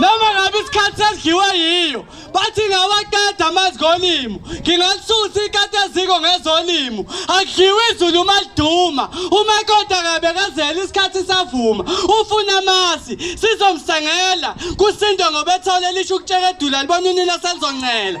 noma ngabe isikhathi sesidliwe yiyo bathi ngawaqeda amazigolimu ngingalisusa ikati eziko ngezolimu akudliwe izulu uma liduma uma kodwa kabe kazela isikhathi savuma ufuna amasi sizomsengela kusindwe ngobethole lisho ukutsheka edula libona unina selizoncela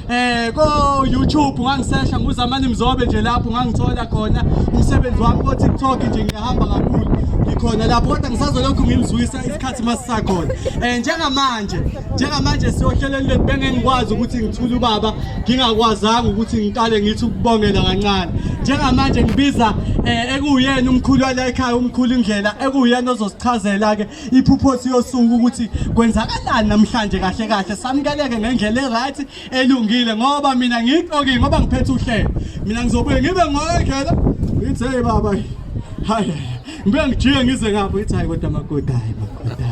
Eh ko YouTube ngangisesha nguzamani mzobe nje lapho ngangithola khona umsebenzi wami ko TikTok nje ngiyahamba kakhulu ngikhona lapho kodwa ngisazolokhu ngimzwisa isikhathi masisakhona eh njengamanje njengamanje siyohleleni lethu bengengikwazi ukuthi ngithule ubaba ngingakwazanga ukuthi ngiqale ngithi ukubongela kancane njengamanje ngibiza eh ekuyena umkhulu wala ekhaya umkhulu indlela ekuyena ozosichazela ke iphuphosi yosuku ukuthi kwenzakalani namhlanje kahle kahle samkeleke ngendlela eright elungile ngoba mina ngiqoki ngoba ngiphethe uhlelo mina ngizobuye ngibe ngoyedlela ngithi hey baba hayi ngibe ngijike ngize ngapho ngithi hayi kodwa magoda hayi magoda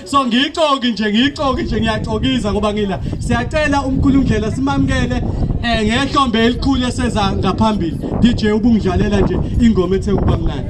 so ngiyixoki nje ngiyixoki nje ngiyaxokiza ngoba ngila siyacela umkhulumdlela simamukele eh ngehlombe elikhulu eseza ngaphambili DJ ubungidlalela nje ingoma ethe kuba mnandi